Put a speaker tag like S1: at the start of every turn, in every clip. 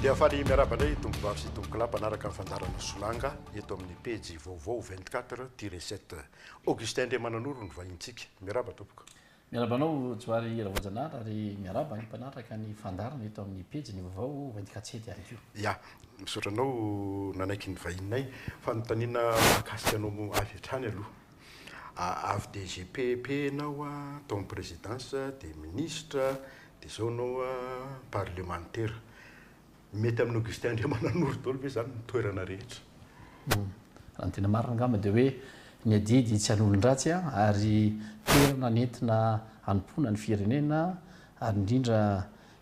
S1: Dia faly miaraba indray tompom-bavy sy tompon-kolahy mpanaraka ny fandaharan'ny solanga eto amin'ny pejy vaovao 24 tiré 7. Augustin Andriamananoro ny vahintsika. Miaraba tompoko. Miarahaba anao
S2: Johary Ravoajanahary ary miarahaba ny mpanatraka ny fandaharana eto amin'ny pejy ny vaovao ho entin-katiety ihany koa. Ya, misaotra
S1: anao nanaiky ny vahininay. Fanontaniana mahakasika anao moa avy hatrany aloha. Avy DGP epp ianao tao amin'ny Présidence, dia Ministra, dia izao ianao Parlemantera. Mety amin'i Augustin Andriamananoro daholo ve izany ny toerana rehetra?
S2: Raha ny tena marina angamba dia hoe ny adidy tsy an'olon-dratsy ary toerana nentina hanompoana ny firenena ary indrindra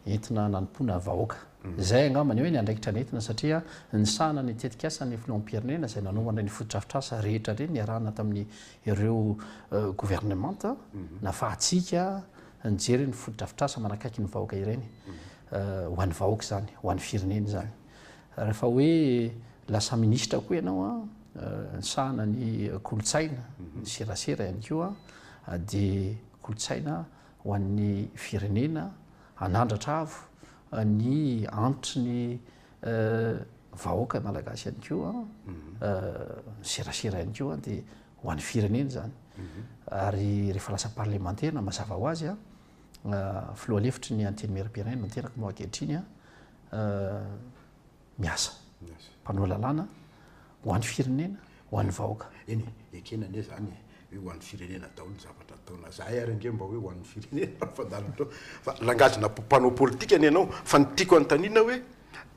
S2: entina nanompoana vahoaka. Izay angamba ny hoe ny andraikitra nentina satria nisahana ny tetikasan'ny filoham-pirenena izay nanaovana ireny fotodrafitrasa rehetra ireny niarahana tamin'ny ireo governemanta nafahantsika nijery ny fotodrafitrasa manakaiky ny vahoaka ireny. ho an'ny vahoaka izany, ho an'ny firenena izany. Rehefa hoe lasa minisitra koa ianao an, nisahana ny kolontsaina, ny serasera ihany koa, dia kolontsaina ho an'ny firenena, hanandratra avo ny antitry ny vahoaka malagasy ihany koa, ny serasera ihany koa dia ho an'ny firenena izany. Ary rehefa lasa parlemantera, mazava ho azy an, Filoha lefitry ny Antenimierampirenena no teraka moa ankehitriny an, miasa, mpanao lalàna ho an'ny firenena, ho an'ny vahoaka. Eny e, ekena
S1: anie izany e, hoe ho an'ny firenena daholo ny zavatra ataonao. Izahay ary ange mba hoe ho an'ny firenena mandalo fotoana. Fa langage-na mpanao politika anie ianao. Fa ny tiako hanontaniana hoe,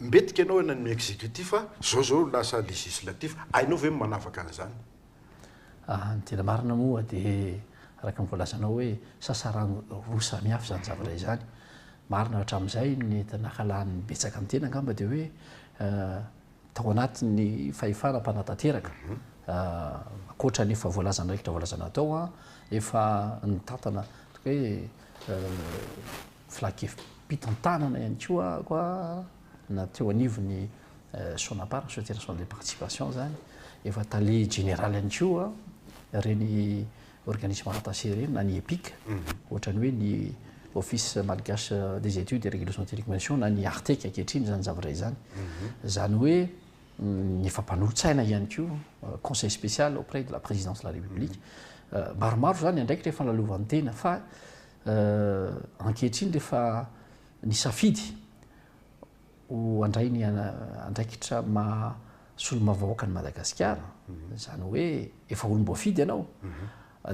S1: mbetika ianao any amin'ny executif, izao izao lasa législatif, hainao ve ny manavaka an'izany? Raha
S2: ny tena marina moa dia araka ny voalazanao hoe sasarano roa samy hafa izany zavatra izany. Marina hatramin'izay ny nakalan'ny betsaka ny tena angamba dia hoe tao anatin'ny fahefana mpanatanteraka, ankoatra ny efa voalazanay rehetra voalazanao tao an, efa nitantana toy ny hoe filan-kevi-pitantanana ihany koa aho an, na teo anivon'ny. Sonapar, Société Nationale de Participation, izany, efa tale jeneraly ihany koa ireny organisme rattaché ireny na ny EPIC, ohatran'ny hoe ny Office Malgache des Études et Régulations Télécommunications na ny Artec ankehitriny izany zavatra izany. Izany hoe ny efa mpanolo-tsaina ihany koa, conseil spécial auprès de la présidence de la République. Maromaro izany andraikitra efa nalovan'tena fa ankehitriny rehefa nisafidy ho handray ny andraikitra maha solombavambahoaka an'i Madagasikara, izany hoe efa olom-boafidy ianao,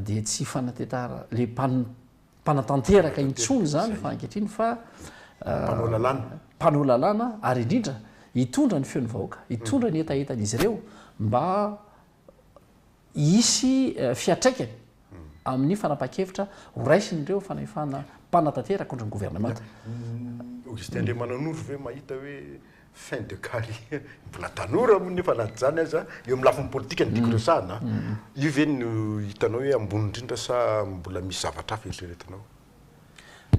S2: dia tsy fanatentara le mpanatanteraka intsony izany fa ankehitriny fa mpanao lalàna, mpanao lalàna ary indrindra hitondra ny feon'ny vahoaka, hitondra ny hetahetan'izy ireo mba hisy fiatraikany amin'ny fanapahan-kevitra ho raisin'ireo fanahefana mpanatanteraka ohatry ny governemanta. Augustin
S1: Andriamananoro ve mahita hoe fin de carrière, mbola tanora moa nefa na izany aza eo amin'ny lafiny politika no tiako resahana, io ve no hitanao hoe ambony indrindra sa mbola misy zavatra hafa eritreretinao?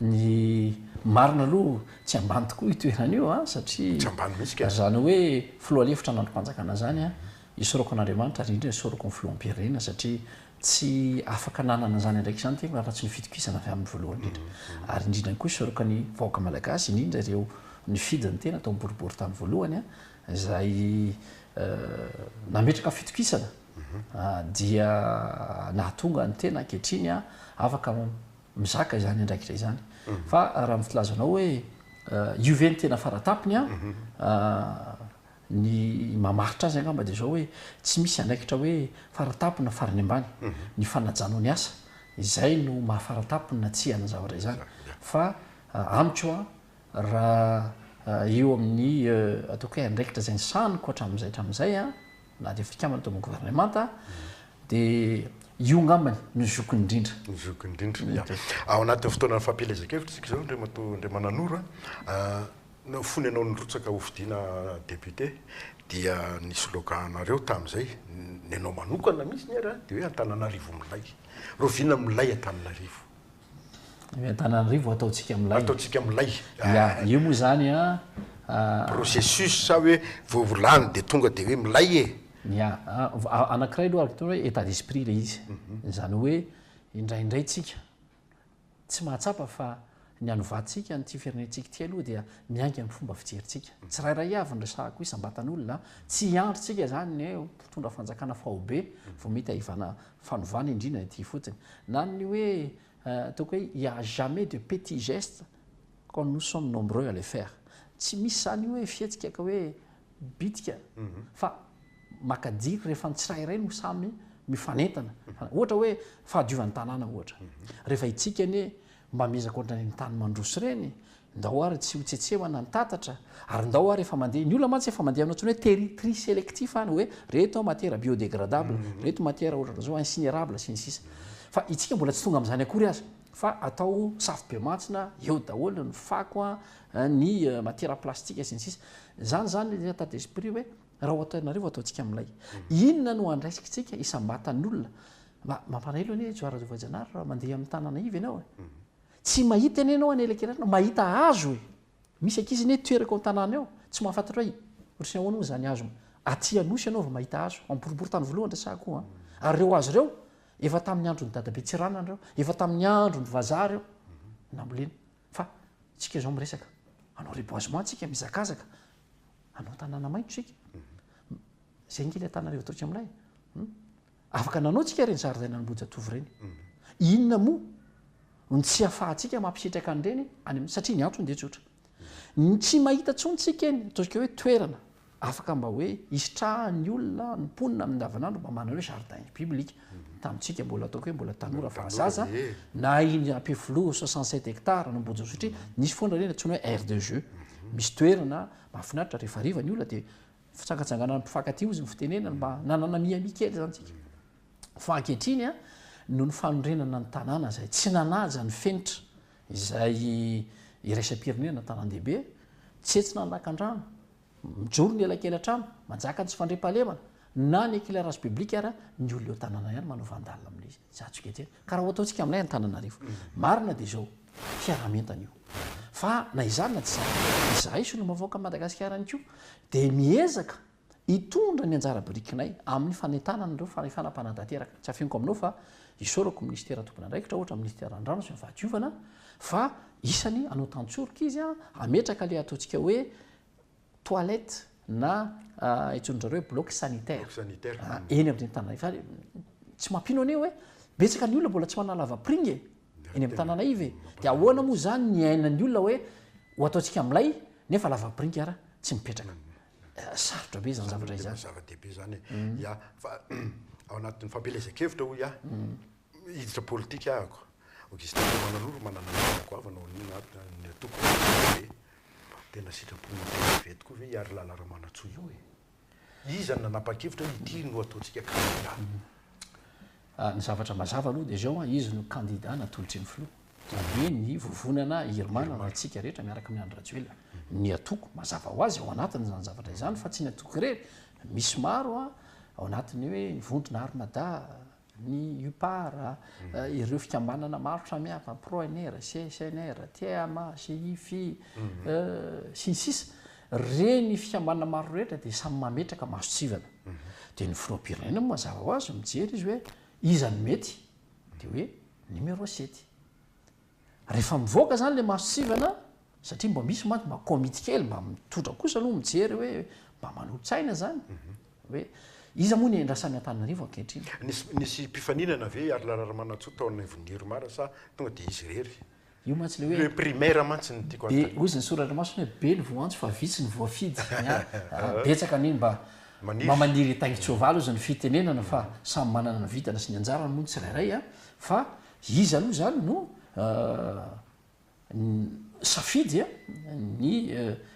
S1: Ny
S2: marina aloha tsy ambany tokoa io toerana io a, satria Tsy ambany mihitsy ka. zany
S1: hoe
S2: filoha lefitra ny andrim-panjakana zany a, isaorako an'Andriamanitra ary indrindra isaorako ny filoham-pirenena satria tsy afaka nanana an'izany andraikitra izany tena raha tsy ny fitokisana avy aminy voalohany indrindra. Ary indrindra ihany koa isaorako ny vahoaka malagasy indrindra ireo nifidy ny tena tao boribory tany voalohany a, izay nametraka fitokisana dia nahatonga ny tena ankehitriny afaka mizaka izany andraikitra izany. Fa raha ny filazanao hoe io ve ny tena faratapony, ny mamaritra azy angamba dia izao hoe tsy misy andraikitra hoe faratapony na farany ambany. Ny fanajanao ny asa izay no maha faratapony na tsia an'izany zavatra izany. Fa amiko Raha eo amin'ny ataoko hoe andraikitra izay nisaniko hatramin'izay hatramin'izay na dia fikambanana tao amin'ny governemanta dia io ngambany no zokiny indrindra. Ny zokiny indrindra. Ia.
S1: Ao anatin'ny fotoanan'ny fampielezan-kevitra isika izao Andriamatoa Andriamananoro a, fony ianao nirotsaka hofidiana député dia ny slogan anareo tamin'izay, ny anao manokana mihitsy ary dia hoe Antananarivo milay. Rahoviana milay Antananarivo? Ny
S2: Antananarivo ataontsika milay. Ataontsika milay.
S1: Ya, io moa izany
S2: an.
S1: Processus sa hoe vao volany dia tonga dia hoe milay e? Ya,
S2: anankiray aloha araka ny hoe état d'esprit ilay izy. Izany hoe indraindray tsika tsy mahatsapa fa ny hanovatsika an'ity firenentsika ity aloha dia miainga amin'ny fomba fijerintsika. Tsirairay avy no resahako isam-batan'olona. Tsy hiandry tsika izany ny hoe mpitondra fanjakana faobe vao mety hahivana fanovana indrina ity fotsiny na ny hoe ataoko hoe il y a jamais de petit geste quand nous sommes nombreux à le faire tsy misy izany io hoe fihetsika ka hoe bitika fa maka jiro rehefa ny tsirairay no samy mifanentana ohatra hoe fahadiovan'ny tanàna ohatra rehefa itsika anie Mba miezaka ohatrany ny tany mandroso ireny, ndao ary tsy ho tsetsehona ny tatatra, ary ndao ary efa mandeha, ny olona mantsy efa mandeha aminao intsony hoe teri tri selectif any hoe reto matiera biodegradable, reto matiera ohatrany zao incinérable sy ny sisa Fa itsika mbola tsy tonga amin'izany akory aza fa atao safo be mantsina eo daholo ny fako an, ny matiera plastika sy ny sisa Zany zany ny etat d'esprit hoe Raha ohatra ianareo ataontsika amin'ilay inona no andraiskitsika isam-batan'olona mba mampalahelo anie Johara Rajaovajanahary raha mandeha amin'ny tanana iva ianao e. Tsy mahita anie ianao an'elakelanao, mahita hazo e. Misy ankizy anie toerako ao an-tanàna eo tsy mahafantatra hoe otriny ahoana hono izany hazo. Aty Anosy ianao vao mahita hazo, miporipory tany voalohany resahako an. Ary ireo hazo ireo efa tamin'ny andron'i Dadabe Tsiranana ireo, efa tamin'ny andron'ny vazaha ireo nambolena. Fa tsika izao miresaka hanao reboisement tsika mizakazaka hanao tanàna maitso tsika zay nge ilay tananarivo ataontsika milay afaka nanao tsika ireny zaridaina an'Ambohijatovo ireny inona moa ny tsy afahantsika mampisitraka an'ireny any satria ny antony dia tsotra ny tsy mahita tsony tsika eny ataontsika hoe toerana Afaka mba hoe hisitrahan'ny olona, ny mponina amin'ny andavanandro mba manana hoe jardin public. Tamintsika mbola ataoko hoe mbola tanora fa zaza, na iny Ampefiloha soixante sept hectares na Ambohidranosotry, nisy foana ireny antsoina hoe aire de jeux. Misy toerana mahafinaritra rehefa hariva ny olona dia fitsangatsanganana mpifankatia hozy ny fitenenana mba nanana mihamia kely izany tsika. Fa ankehitriny a, noho ny fanorenana ny tanàna izay tsy nanaja ny fenitra izay iraisam-pirenena na tanàn-dehibe, tsy hetsy nanakan-drano Mijoro ny elakelatrano, manjaka ny tsy fandriampahalemana, na ny éclairage public ary ny olona eo tanàna ihany manao vandale amin'ny zajy kely zay. Ka raha ho ataontsika aminay Antananarivo. Marina dia izao, fiaraha-mientana io. Fa na izany na tsy izany, izahay solombavaoakan'i Madagasikara ihany koa dia miezaka hitondra ny anjara birikinay amin'ny fanentanana an'ireo fanefana mpanatanteraka. Tsy afeniko aminao fa isaorako ny minisitera tompon'andraikitra, ohatra ny minisitera ny rano sy ny fahadiovana, Fa isany hanao tantsoroka izy an, hametraka ilay ataontsika hoe toilette na antsoin-dry zareo hoe bloc sanitaire, eny amin'ireny tanàna fa tsy mampino anie hoe betsaka ny olona mbola tsy manana lavapiringa e, eny amin'ny tanàna iva e, dia ahoana moa izany ny iainan'ny olona hoe ho ataontsika milay nefa lavapiringa ary tsy mipetraka. Sarotra be izany zavatra izany. Zava-dehibe izany e.
S1: Ya, fa ao anatin'ny fampielezan-kevitra hoy aho, Hiditra politika ahako. Augustin Ramananoro manana ny raha goavana ho an'io na ny atoko na ny atoko ve? Tena sitrapon'ny HCV tokoa ve i Harilala Ramanantsoa io e? Iza no nanapa-kevitra hoe ity no ataontsika kandida?
S2: Ny zavatra mazava aloha dia izao, izy no kandida natolotry ny filoha. Izany hoe ny vovonana Irma na antsika rehetra miaraka amin'i Andry Rajoelina. Ny atoko mazava ho azy ao anatiny izany zavatra izany fa tsy ny atoko irery, misy maro ao anatin'ny hoe ny vondrona Armada, ny UPAR, ireo fikambanana maro samihafa, PRONR, CSNR, TMA, CIFI, sy ny sisa, ireny fikambanana maro ireny rehetra dia samy mametraka masontsivana. Dia ny filoham-pirenena moa mazava ho azy mijery izy hoe iza no mety, dia hoe numéro sept. Rehefa mivoaka zany le marcivana satria mba misy mantsy mba comite kely mba mitondra kosa aloha mijery hoe mba manolo-tsaina zany hoe iza moa ny iandrasany Antananarivo ankehitriny. Nisy nisy mpifaninana
S1: ve i Arlala Ramanantsoa tao anivon'ny Urmar sa tonga dia izy irery? Io mantsy le hoe. Le
S2: primaire mantsy no tiako
S1: hanontaniana. Be ozy ny soratra masina
S2: hoe be ny voantso fa vitsy ny voafidy ny ahy betsaka anie mba mba maniry hitaingin-tsoavaly ozy ny fitenenana fa samy manana ny vitany sy ny anjarany moa ny tsirairay a fa Iza aloha izany no nisafidy ny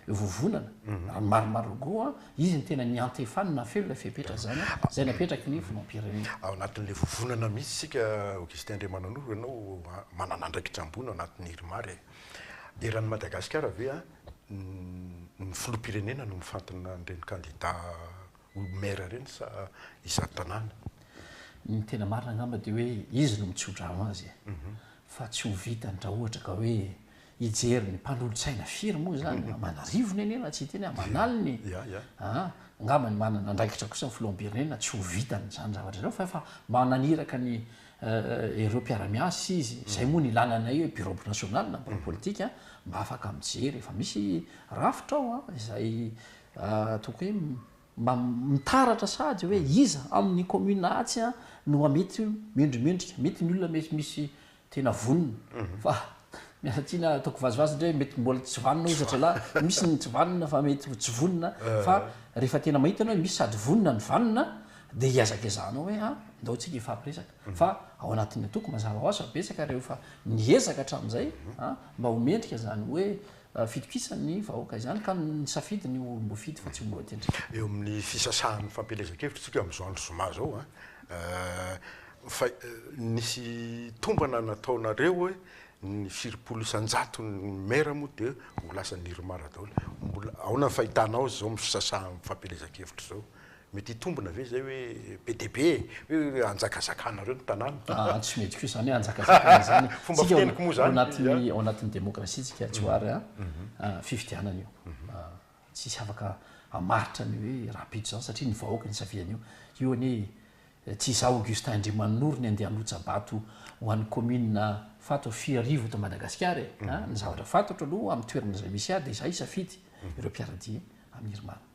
S2: vovonana? Raha ny marina Margot an, izy no tena niantefany nahafeno ilay fepetra izany, izay napetraky ny filoham-pirenena. Ao anatin'ilay vovonana
S1: mihitsy isika Augustin Andriamananoro, ianao manana andraikitra ambony ao anatin'ny Irmar e! Eran'i Madagasikara ve ny filoham-pirenena no mifantina an'ireny kandida Omby maire reny sa iza tanàna? Ny
S2: tena marina angamba dia hoe izy no mitsodrano azy e! Fa tsy ho vitany raha ohatra ka hoe hijery ny mpanolotsaina firy moa izany? Aman'arivony anie raha tsy hiteny aho, aman'aliny e! Ya, ya. Aa! Angamba ny manana andraikitra kosa ny filoham-pirenena tsy ho vitany izany zavatra izany fa efa mananiraka ny ireo mpiara-miasa izy, izay moa no ilana anay hoe bureau national na bureau politique mba afaka mijery, efa misy rafitra ao an! izay Tokony hoe mba mitaratra sahady hoe iza amin'ny commune atsy no mba mety mendrimendrika. Mety ny olona mety misy tena vonona fa miala tsiny aho ataoko vazivazy indray hoe mety mbola tsy vanona hoy zazalahy, misy ny tsy vanona fa mety ho tsy vonona fa rehefa tena mahita ianao hoe misy sady vonona no vanona dia iezakaezahanao hoe a ndao tsika hifampiresaka fa ao anatin'ny antoko mazava ho azy fa betsaka ireo efa niezaka hatramin'izay a mba ho mendrika izany hoe fitokisan'ny vahoaka izany ka nisafidy ny ho olom-boafidy fa tsy ho lohatendry. Eo amin'ny
S1: fisasahan'ny fampielezan-kevitra isika amin'izao andro zoma izao an! fa nisy tombana nataonareo hoe ny firimpolo isan-jaton'ny maire moa dia ho lasan'ny Irmar daholo, mbola ahoana ny fahitanao izao amin'ny fisasahan'ny fampielezan-kevitra izao? Mety hitombina ve izay hoe be dia be e? Hoe hanjakazakanareo ny tanàna? Ah, tsy mety koa izany hoe
S2: hanjakazakana izany e. Fomba fiteniko moa izany. Ao
S1: anatin'ny, ao anatin'ny
S2: demokrasiantsika Johary a, fifidianana io. Tsisy afaka hamaritra ny hoe rahampitso izany satria ny vahoaka nisafidy an'io. Io anie tsy izaho Augustin Andriamanoro ny andeha hanotsa-bato ho an'ny kaominina Fatoha Fiharivo eto Madagasikara e. Ny zavatra fantatro aloha amin'ny toerana izay misy ahy dia izaho hisafidy ireo mpiara-dia amin'Irmana.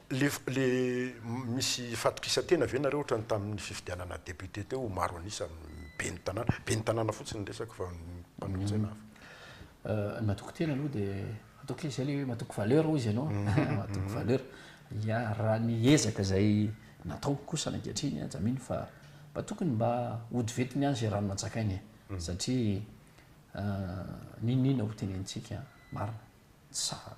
S1: Le le misy fatokisan-tena ve nareo ohatran'ny tamin'ny fifidianana député teo ho maro an'isa amin'ny ben'ny tanàna? Ben'ny tanàna fotsiny ny resako fa ny mpanolo-tsaina hafa.
S2: Ny matoky tena aloha dia ataoko hoe izay le hoe matoky valeur hoy izy ianao an, matoky valeur. Ya, raha ny ezaka izay nataoko kosany ankehitriny aza mino fa mba tokony mba hodivetiny ihany izay rano nantsakainy e. Satria n'inon'inona hotenenintsika marina, tsy sahy.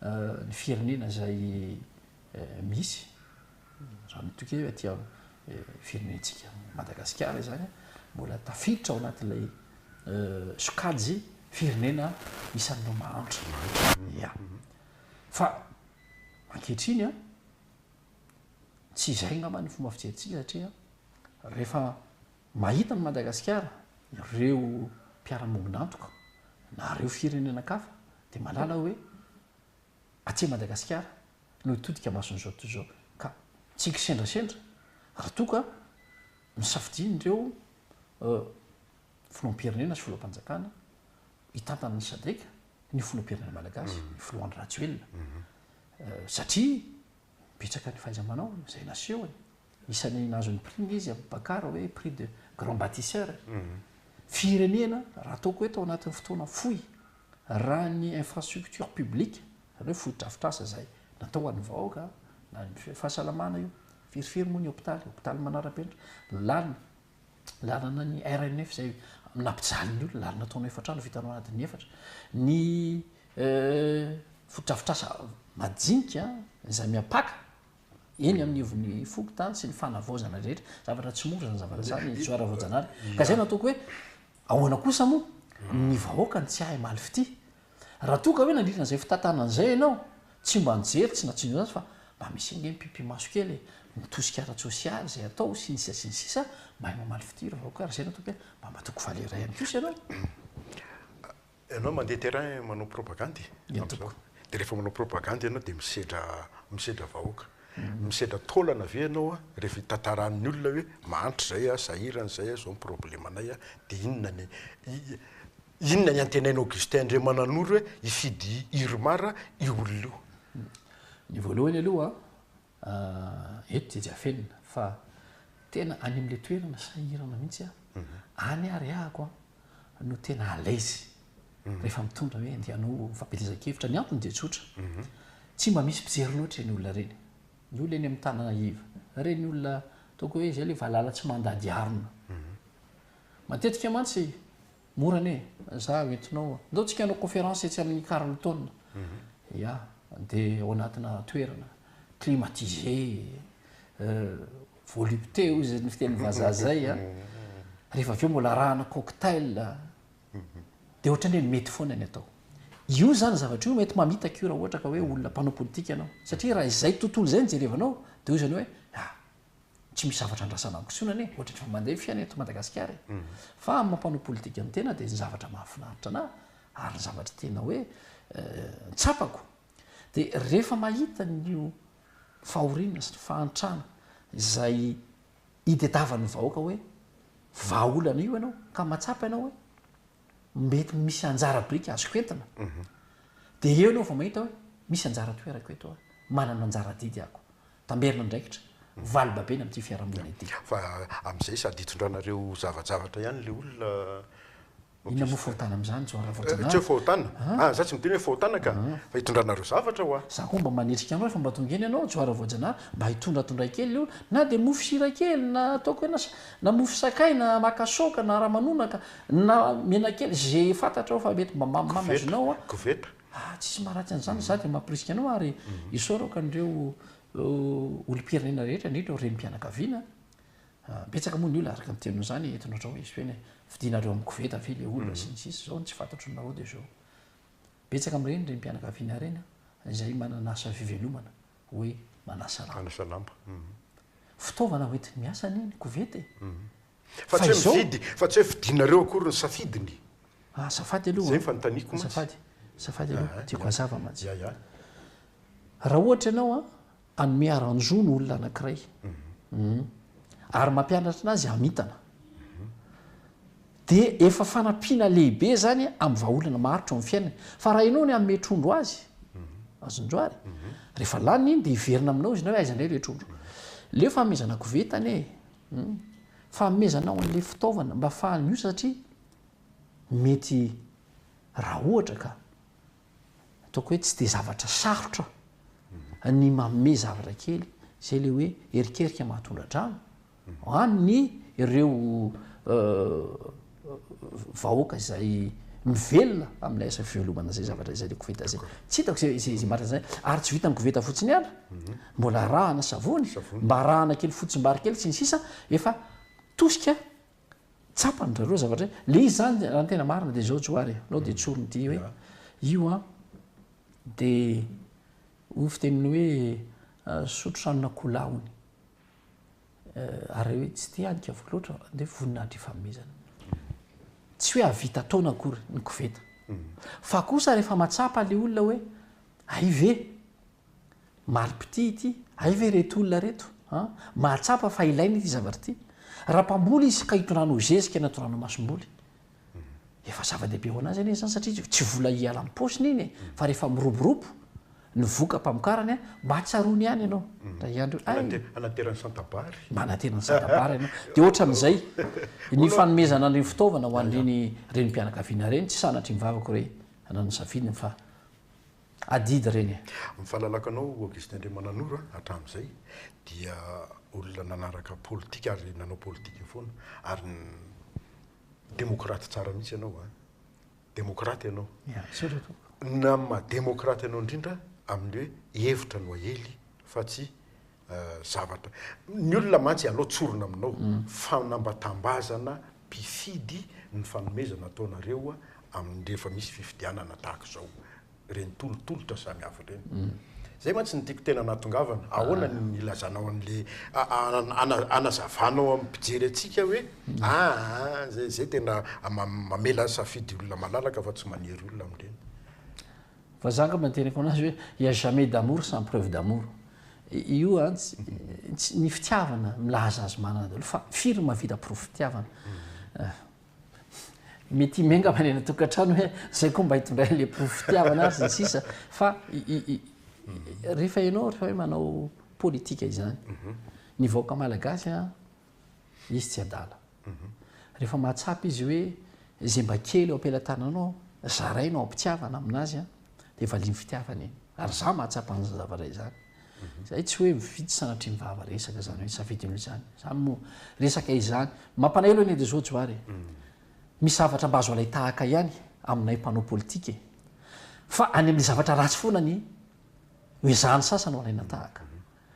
S2: ny firenena izay misy raha mitokia eo aty am firenentsika Madagasikara izany mbola tafiditra ao anatin'ilay sokajy firenena isan'ireo mahantra ya fa ankehitriny a tsy izay angamba ny fomba fijerintsika satria rehefa Mahita an'i Madagasikara ireo mpiara-mombon'antoka na ireo firenenankafa dia mahalala hoe aty Madagasikara no hitodika mason'izao tontolo izao ka tsy kisendrasendra raha toa ka nosafidian'ireo filoham-pirenena sy filoham-panjakana hitantana ny Sadec ny filoham-pirenena malagasy, ny filoha Andry Rajoelina satria. Betsaka ny fahaiza-manao izay nasehony. Isan'ny nahazo ny prix izy amin'i Bakara hoe prix de grand bâtisseur. Firenena raha ataoko eto ao anatin'ny fotoana fohy, raha ny infrastructure publique, izany hoe fotodrafitrasa izay natao ho an'ny vahoaka, na ny fahasalamana io, firifiry moa ny hopitaly, hopitaly manara-penitra, lalana, lalana ny RNF izay nampijaly ny olona ary nataonao efa trano vitanao adiny efatra ny fotodrafitrasa majinika izay miampaka eny amin'ny evon'ny fokontany sy ny fanavaozana rehetra zavatra tsy mora zany zavatra zany tsoara voajanahary ka zay nataoko hoe Ahoana kosa moa ny vahoaka no tsy hahay maly fitia? Raha toa ka hoe nandritra an'izay fitantanana izay ianao, tsy mba nijery, tsy natsindrona azy fa mba misy ange mipipi-maso kely e, ny tosika ara-tsosialy, izay atao, sy ny sisa sy ny sisa, mahay mamaly fitia ireo vahoaka ary izay no ataoko hoe mba matoky valera ihany kosa ianao. Ianao
S1: mandeha terrain manao propagande e, amin'izao dia rehefa manao propagande ianao dia misedra misedra vahoaka. Misedra taolana ve ianao rehefa hitantaran'ny olona hoe mahantra izay aho, sahirana izay aho, izao ny problemanay aho dia inona ny inona ny antenain'i Augustin Andriamananoro hoe hifidy Irmar io olona io? Ny
S2: voalohany aloha Aah eto dia jiafenina fa tena any amin'ilay toerana sahirana mihitsy aho. Any ary ahako no tena à l'aise rehefa mitondra hoe andeha hanao fampielezan-kevitra. Ny antony dia tsotra, tsy mba misy mpijery loatra ireny olona ireny. Ny olona eny amin'ny tanana iva, ireny olona ataoko hoe izay ilay valala tsy mandady harona. Matetika mantsy. Mora anie e! Za hoentinao a! Ndao tsika hanao conférence etsy amin'ny Carlton. Ya! Dia ao anatina toerana climatisé, volupté hoy izay fitenin'ny vazaha izay a! Rehefa avy eo mbola arahana cocktail. Dia ohatran'ny hoe mety foana ny atao. Io izany zavatra io mety mamitaka io raha ohatra ka hoe olona mpanao politika ianao. Satria raha izay tontolo izay no jerevanao dia hoy izany hoe, ah! tsy misy zavatra andrasana ankosonana e, ohatra efa mandeha ny fiainana eto Madagasikara e. Fa amin'ny mampanao politika ny tena dia ny zavatra mahafinaritra anah ary ny zavatra tena hoe tsapako dia rehefa mahita an'io fahoriana sy ny fahantrana izay itetavan'ny vahoaka hoe vahaolana io ianao ka matsapa ianao hoe mety misy anjara biriky azoko entina mhm. dia eo ianao vao mahita hoe misy anjara toerako eto aho manana anjara didy ako tamberina andraikitra, vali-babena amin'ity fiarahamonina ity. Fa amin'izay
S1: sady hitondranareo zavajavatra ihany ilay olona.
S2: Inona moa fahotana amin'izany John Ravaojanahary? Tsy hoe fahotana.
S1: An! Za tsy miteny hoe fahotana ka! Fa hitondranareo zavatra hoa. Za koa mba manetrika anao rehefa
S2: mba tonga eny ianao John Ravaojanahary mba hitondratondray kely ilay olona, na dia mofo sira kely na ataoko hoe na mofo sakay na makasaoka na ramanonaka na menakely, izay fantatrao fa mety mba mamimamy azonao an! Koveta, Ah,
S1: tsisy maharatsy
S2: an'izany, za dia mampirisika anao ary isaorako an'ireo olom-pirenena rehetra, indrindra ireo renim-pianakaviana, ah, betsaka moa ny olona araka ny teniny izany eto notrao izy hoe fidinareo amin'ny koveta ve le olona sy ny sisa izao no tsy fantatro ny nareo dia izao. Betsaka amin'ireny renim-pianakaviana ireny an, izay manana asa fivelomana hoe manasa lamba. Manasa lamba. Fitaovana hoentin'ny miasa anie ny koveta e. Fa
S1: tsy hoe mividy, fa tsy hoe fidinareo akory ny safidiny. Azafady
S2: aloha an. Izay ny fanontaniako mantsy. Azafady,
S1: azafady aloha,
S2: tiako hazava mantsy. Ya, ya. Raha ohatra ianao an, hanome haranjo ny olona anankiray, ary mampianatra anazy hamintana, dia efa fanampiana lehibe izany amin'ny vahaolana maharitra eo amin'ny fiainany. Fa raha ianao no hanome trondro azy, azonjo ary, rehefa laniny iny dia hiverina aminao izy na hoe aiza indray ilay trondro. Leo fanomezana koveta anie e! Humm. Fanomezanao an'ilay fitaovana mba afahany miosa satria mety raha ohatra ka ataoko hoe tsy dia zavatra sarotra ny manome zavatra kely izay ilay hoe erikerika mahatondra-drano any ny ireo vahoaka izay mivelona amin'ilay asa fivelomana izay zavatra izay le koveta izay tsy hitako izay izay izay marina izay ary tsy vitan'ny koveta fotsiny ihany mhm. mbola arahana savony mba arahana kely fotsimbary kely sy ny sisa efa tosika tsapany rareo zavatra hoe le izy zany raha ny tena marina dia izao joary nao dia tsorony ity hoe io a dia ho fiteniny hoe ah, sotro sanona kolahony ary hoe tsy te adika voa loatra de voninahitry fanomezana tsy hoe avita taona akory ny koveta fa kosa rehefa matsapa le olona hoe ay ve malipiti ity ay ve reto olona reto a mahatsapa fa ilaina ity zavatra ity raha mpamboly izy ka hitondrano zezika na tondrano masomboly Efa zava-dehibe ho anazy anie izany satria tsy vola hiala am-paosiny iny e, fa rehefa miroborobo ny voka-pamokarany mba tsaroany ihany ianao ry Andry hoe hay, Manatera
S1: ny santabary. manatera ny santabary
S2: ianao. Dia ohatran'izay ny fanomezana an'ireny fitaovana ho an'ireny renim-pianakaviana ireny, tsy sanatria ny vavako re, anao no nisafidy ny fa. adidy ireny e. Ny fahalalako anao
S1: Augustin Andriamananoro a, hatramin'izay dia olona nanaraka politika ary nanao politika foana ary demokraty tsara mihitsy ianao a, demokraty ianao. Merci ry tompoko. Ny amin'ny maha demokraty anao indrindra amin'ny hoe hevitra no aely fa tsy zavatra. Ny olona mantsy ianao tsorina aminao, fanambatambazana mpifidy ny fanomezana ataonareo amin'ny rehefa misy fifidianana tahaka izao, ireny tolotolotra samihafa ireny. Izay mantsy no tiako tena hanatongavana, ahoana no ilazanao an'ilay, hanazavanao amin'ny mpijery antsika hoe aa, izay tena mamela safidy olona malalaka fa tsy manery olona amin'ireny. Fa
S2: zaka mba nitereko anazy hoe il y a jamais d'amour sans preuve d'amour. Io an tsy ny fitiavana milaza azy manana daholo fa firy no mahavita porofo fitiavana. Mety himenga any anaty tokantrano hoe zay koa mba hitondray le porofo fitiavana ary ny sisa fa rehefa ianao rehefa hoe manao politika izany ny vahoaka malagasy an izy tsy adala. Rehefa mahatsapa izy hoe izay mba kely eo am-pelatananao zaraina ao am-pitiavana amin'azy an, dia valian'ny fitiavana iny. Ary izaho mahatsapa an'izany zavatra izany. Izay tsy hoe mividy sanatria mivava resaka izany hoe safidy aloha izany. Izany moa resaka izany. Mampanaelo anie dia izao Johary e. Misy zavatra mba azo alain-tahaka ihany aminay mpanao politika e. Fa any amin'ny zavatra ratsy foana anie no ezahan'ny sasany ho alaina tahaka.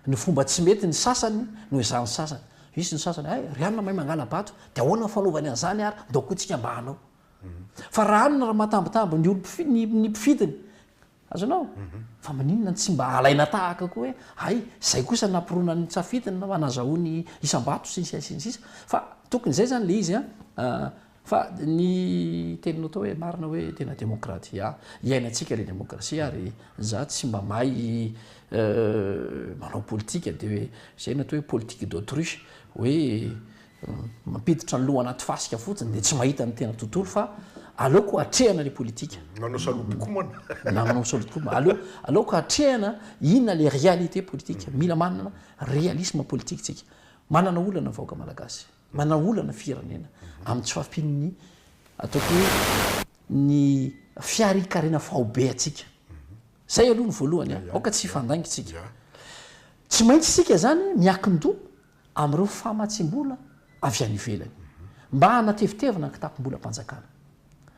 S2: Ny fomba tsy mety ny sasany noho izany sasany. Hisy ny sasany, hay, ry anona mahay mangala-bato, dia ahoana ny fanaovany an'izany ary, ndao koa tsika mba hanao. Fa raha anona raha matambitamby ny olom-pifid, ny, ny mpifidiny. Azonao? Fa maninona no tsy mba alaina tahaka koa hoe, hay, izay kosa nampironany ny tsafidiny, na nazahoany isam-bato, sy ny sisa sy ny sisa. Fa tokony izay izany ilay izy an, Fa ny teninao tao hoe marina hoe tena demokratia, iainantsika le demokrasia ary za tsy mba mahay manao politika de hoe zay ny atao hoe politique d'autruche hoe mampiditra ny loha anaty fasika fotsiny de tsy mahita ny tena tontolo fa aleoko atrehana le politika. Manao salobokomana.
S1: Na manao salobokomana.
S2: Aleo aleoko atrehana inona le réalité politique. Mila manana réalisme politique tsika. Manana olana ny vahoaka malagasy. Manao olana firenena amin'ny tsy fahampian'ny ataoko hoe ny fiarikarena faobe antsika. Izay aloha ny voalohany an, aoka tsy hifandainga isika. Tsy maintsy isika izany miankin-doha amin'ireo famatsiam-bola avy any ivelany mba hanatevitevina ny kitapom-bolam-panjakana.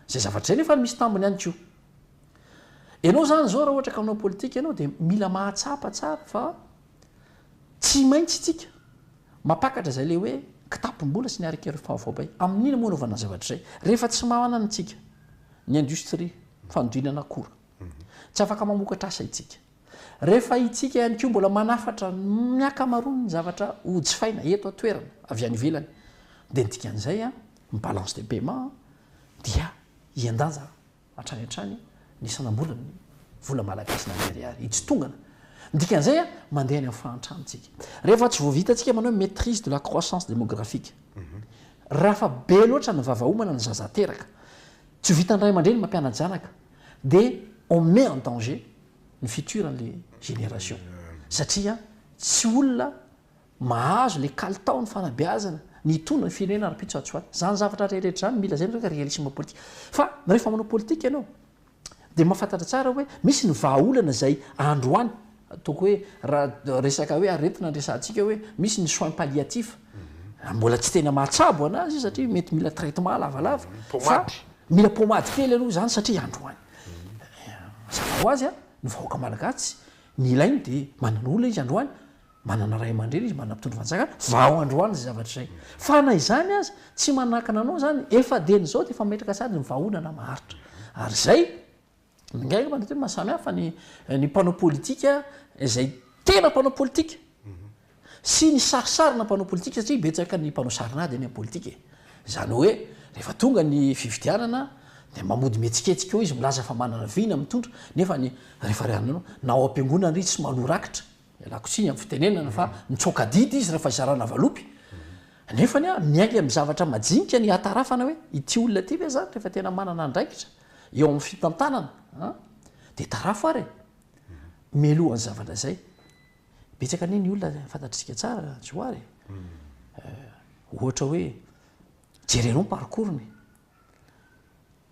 S2: Izay zavatra izay nefa misy tambiny ihany koa. Ianao izany izao raha ohatra ka manao politika ianao dia mila mahatsapa tsara fa Tsy maintsy isika mampakatra izay ilay hoe kitapom-bola sy ny harik'ireo fahavao bay. Amin'inona moa anaovana ny zavatra izay rehefa tsy manana isika ny industrie fanodinana akora? Tsy afaka mamokatra asa isika. Rehefa isika ihany koa mbola manafatra ny ankamaroan'ny zavatra hojifaina eto an-toerana avy any ivelany dia ny dikan'izay ny balance de paiement dia hihen-danja Hatrany hatrany ny sanambolan' ny vola malagasy na ny ariary itsitongana. Ny dikan'izay a, mandeha any amin'ny fahantrantsika. Rehefa tsy voavitantsika manao hoe maitrise de la croissance démographique, raha fa be loatra ny vava homana ny zaza ateraka, tsy ho vitan'ny ray aman-dreny ny mampianatra zanaka, dia on met en danger ny futur an'ilay génération. Satria tsy olona. Mahazo le kalitao ny fanabeazana, ny hitondra ny firenena rampitsoatsoay. Zany zavatra reheretra zany mila zay ny resaka realisme politique. Fa rehefa manao politique ianao dia mahafantatra tsara hoe misy ny vahaolana izay androany ataoko hoe raha resaka hoe aretina no resahantsika hoe misy ny soins palliatifs mbola tsy tena mahatsabo anazy izy satria mety mila traitement lavalava fa mila pomady kely aloha izany satria androany. Mazava ho azy a, ny vahoaka malagasy tsy ny ilainy dia manana olona izy androany Manana ray aman-dreny izy, manana mpitondra fanjakana, vao androany izay zavatra izay. Fa na izany aza, tsy manakana anao izany, efa dieny izao dia efa mametraka sady ny vahaolana maharitra. Ary izay, ingahy angamba mety hoe mahasamihafa ny ny mpanao politika izay tena mpanao politika sy ny sarisarina mpanao politika satria betsaka ny mpanao sarin'ady eny amin'ny politika e. Izany hoe, rehefa tonga ny fifidianana dia mba mody mihetsiketsika eo izy, milaza fa manana vina, mitondra, nefa ny rehefa rehaninao, na ao am-piangonana izy tsy manoa rakitra, Ialako tsiny amin'ny fitenenana fa mitsoaka adidy izy rehefa zarana valopy. Nefa anie miainga amin'ny zavatra majinika ny hiatarafana hoe ity olona ity ve zany rehefa tena manana andraikitra eo amin'ny fitantanana a dia tarafo ary e! Mialoha ny zavatra izay, betsaka anie ny olona fantatritsika tsara Johary e! ohatra hoe jereo ny parcours-ny.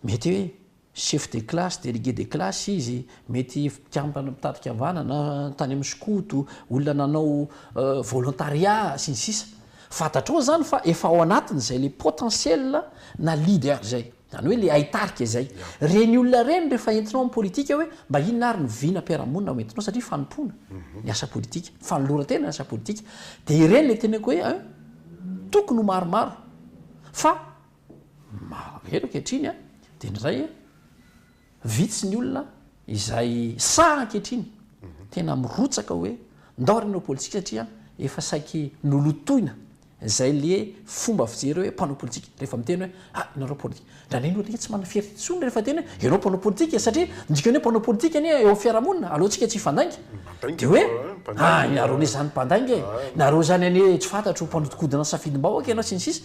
S2: Mety hoe chef de classe, délégué de classe izy, mety mpikambana mpitady fihavanana tany amin'ny skoto, olona nanao volontariat sy ny sisa Fantatrao izany fa efa ao anatiny izay ilay potentiel na leader izay, izany hoe ilay haitarika izay. Ireny olona ireny rehefa entinao amin'ny politika hoe mba inona ary ny vina am-piarahamonina ho entinao satria fanompoana ny asa politika, fanoloran-tena ny asa politika dia ireny ilay teneniko hoe tokony ho maromaro fa Maro eto ankehitriny dia ny iray vitsy ny olona izay sahy ankehitriny tena mirotsaka hoe ndao re hanao politika satria efa saiky nolotoina izay le fomba fijery hoe mpanao politika rehefa miteny hoe ah ianareo politika ndra le ny olona tsy manana fierté intsony rehefa teny hoe ianao mpanao politika e satria ny dikany hoe mpanao politika anie eo amin'ny fiarahamonina alohantsika tsy hifandainga dia hoe ah ianareo anie izany mpandainga e ianareo izany anie tsy fantatro mpanodikodina ny safidim-bahoaka ianao sy ny sisa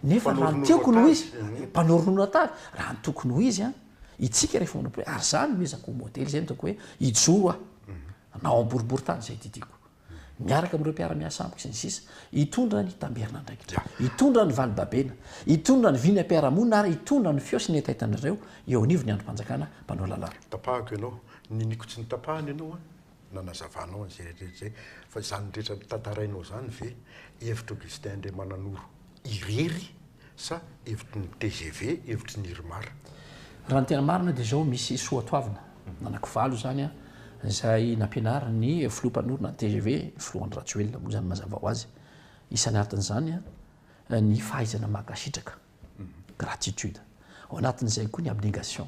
S2: Nefa raha ny tiako no izy, mpanoronoro atavy, raha ny tokony ho izy an, itsika rehefa manao prière, ary zany no ezako ho modely, zay no ataoko hoe hijoro aho, na ao am-boribory tany zay didiako, miaraka amin'ireo mpiara-miasa amiko sy ny sisa, hitondra ny tamberin'andraikitra, hitondra ny valibabena, hitondra ny vina mpiara-monina ary hitondra ny feo sy ny hetaitan'ireo eo
S1: anivon'ny
S2: andrim-panjakana mpanao
S1: lalàna.
S2: Tapahako
S1: ianao,
S2: niniko tsy
S1: nitapahana
S2: ianao
S1: an. nanazavanao an'izay rehetra izay, fa izany rehetra tantarainao izany ve hevitr'Augustin Andriamananoro irery sa hevitry ny tgv, hevitry ny Irmar? Raha ny tena
S2: marina dia izao, misy soatoavina anankivalo izany izay nampianarin'ny filoha mpanorina ny tgv, filoha Andry Rajoelina moa izany mazava ho azy. Isan'artin'izany ny fahaizana mankasitraka. gratitude, ao anatin'izay koa ny abnegation,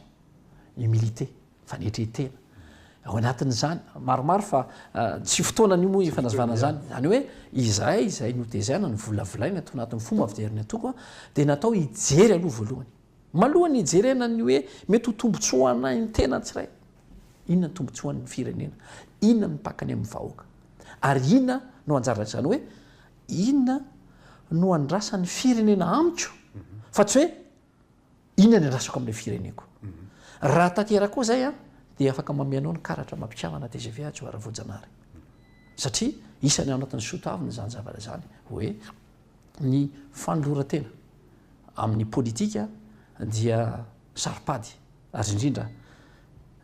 S2: humilité, fanetren-tena, ao anatin'izany maromaro fa tsy fotoanan'io moa efa nazvana an'izany, izany hoe izahay izay notezaina, novolavolaina tao anatin'ny fomba fijerin'ny antoko dia natao hijery aloha voalohany, malohan'ny hijerena ny hoe mety ho tombontsoa anay ny tena tsirairay, inona ny tombontsoan'ny firenena, inona no mipaka ny amin'ny vahoaka ary inona no anjaran'izany hoe Inona no andrasan'ny firenena amiko fa tsy hoe inona ny andrasako amin'ilay fireneko. Raha tanteraka koa izay an, dia afaka mamehy anao ny karatra amam-pikambana tgv atsy ho ary voajanahary. Satria isany ao anatin'ny soa toavina izany zavatra izany hoe ny fanoloran-tena amin'ny politika dia saro-pady. Ary indrindra,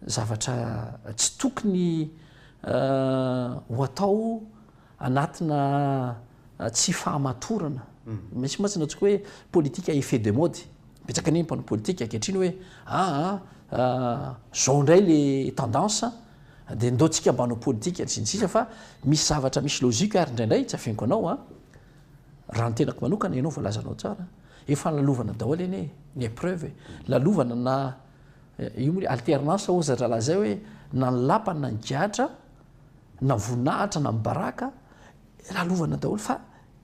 S2: zavatra tsy tokony ho atao anatina tsy fahamatorana. Misy mantsy ny antsoiko hoe politika effet de mode. Betsaka anie ny mpanao politika ankehitriny hoe aa zao indray le tendance dia ndao tsika mba hanao politika sy ny sisa fa misy zavatra misy logique ary indraindray tsy afeniko anao an. Raha ny tenako manokana, ianao voalazanao tsara, efa lalovana daholo anie e, ny épreuve e, lalovana na io moa le alternance hozy ry rahalahy zay hoe na ny lapa na ny gadra na voninahitra na ny baraka lalovana daholo fa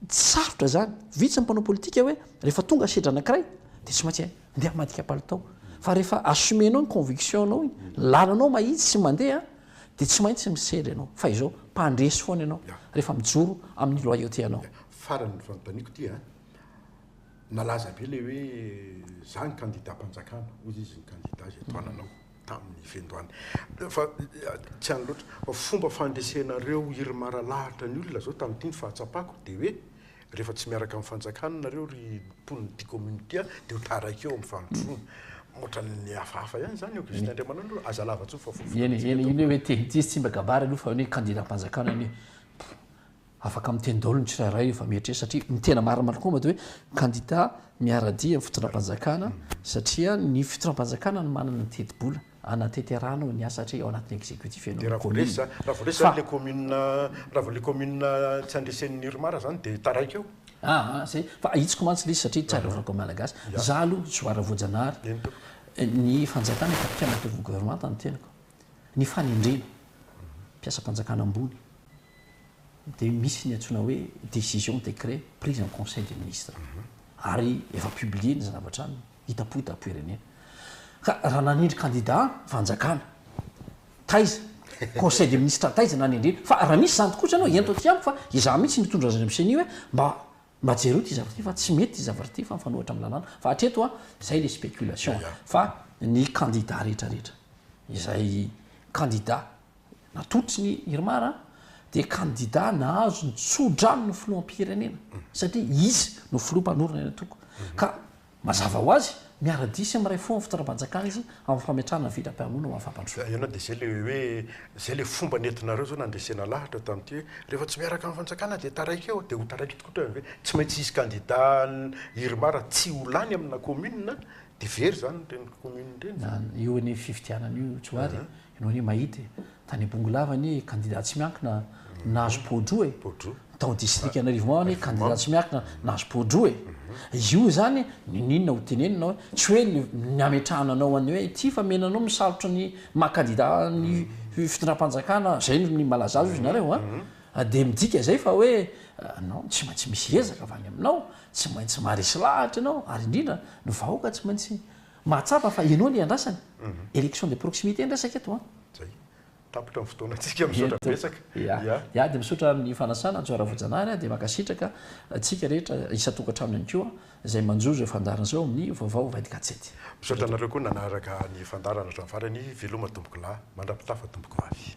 S2: tsy sarotra zany, vitsy ny mpanao politika hoe rehefa tonga sedra anankiray dia tsy maintsy ndeha hamadika palitao fa rehefa assumer-nao ny conviction-nao iny, ny lalanao mahitsy sy mandeha dia tsy maintsy misedra ianao fa izao mpandresy foana ianao rehefa mijoro amin'ny loyauté anao. Farany ny fanontaniako
S1: dia nalaza be ilay hoe za ny kandidam-panjakana hoy izy ny kandida izay tohananao tamin'ny fiandohana fa tsy any loatra fa fomba fandresenareo irmar alahatra ny olona izao tamin'ity ny fahatsapako dia hoe Rehefa tsy miaraka amin'ny fanjakana nareo ry mponin'ny ty commune ity a de ho taraiky eo amin'ny fandrosoana. Ohatran'ny hafahafa ihany zany Augustin Andriamanandro, aza lava tso fa voafoy Eny, amintsika eny, eny hoe te
S2: hiteny izy tsy mba kabary aloha fa hoe kandidam-panjakana anie afaka miteny daholo ny tsirairay io fa mieritreritra satria ny tena marina marina koa mba dia hoe kandida miara-dia amin'ny fitondram-panjakana satria ny fitondram-panjakana no manana ny teti-bola. Hanateterana ny asa hatreto ao anatin'ny executif ianao ny commune fa. Dia raha vao resy
S1: zany, raha vao resy ilay commune, raha vao ilay commune tsy andresen'ny irmar zany dia taraiky eo. Aa zay, fa
S2: ahitsiko mantsy ilay izy satria tsy arovako ny Malagasy. Izaho aloha Johara Voajanahary, Eny tompoko. ny fanjakana efa mpikambana teo amin'ny governemanta no tenako. Ny fanendrena mpiasam-panjakana ambony dia misy ny antsoina hoe décision, décret, prise en conseil des ministres. Ary efa publié ny zavatra aminy. hita poa da poirenena ka raha nanindry kandida fanjakana taiza conseil des ministres taiza nanindriny fa raha misy zany tokoa zany hoe ento aty amiko fa izaho mihitsy nitondra azy any am ceni hoe mba mba jereo ty zavatra ty fa tsy mety ty zavatra ty fa mifanohitra am lalàna fa hatreto a zay le spéculation fa ny kandida retraretra izay kandida Natotsiny Irmar dia kandida nahazo ny tso-drano ny filoham-pirenena satria izy no filoha mpanorina eny Antoko ka mazava ho azy miara-dia sy miray fo amin'ny fitondram-panjakana izy amin'ny fametrahana ny vindram-piarahamonina ho an'ny fampandrosoana. Ianao dia izay ilay hoe
S1: izay ilay fomba nentinareo izao nandresena lahatra tamin'ity hoe rehefa tsy miaraka amin'ny fanjakana dia taraiky eo dia ho taraiky tokoa ohatran'ny hoe tsy maintsy hisy kandida Irmar tsy ho lany amina commune dia very izany ireny commune ireny. Io anie fifidianana
S2: io Johary e! Ianao anie mahita e! Tany Bongolava anie kandida tsy miankina nahazo poa-droa e! Tao distrika Anarivoma ao anie kandida tsy miankina nahazo poa-droa e! Io izany ninoninona ho teneninao e! Tsy hoe ny hametrahana anao any hoe ity fa mena anao misarotro ny maha kandida ny fitondram-panjakana izay no malaza azy hoy ianareo a! Dia midika izay fa hoe ianao tsy maintsy misy ezaka avy any aminao, tsy maintsy maharesy lahatra ianao ary indrindra ny vahoaka tsy maintsy Mahatsapa fa ianao no iandrasany. Élection de proximité ny resaka eto an. Zay.
S1: Tapitra ny fotoanantsika. Misaotra betsaka. Ya. Ya dia misaotra
S2: amin'ny fanasana Hajo Ravojanahary a. Dia mankasitraka antsika rehetra isan-tokantrano ihany koa izay manjo izao fandaharana izao amin'ny Vaovao Vaid Gazety. Misaotra anareo koa
S1: nanaraka ny fandaharana hatramin'ny farany. Veloma tompokolahy. Mandra-pitafa tompoko vavy.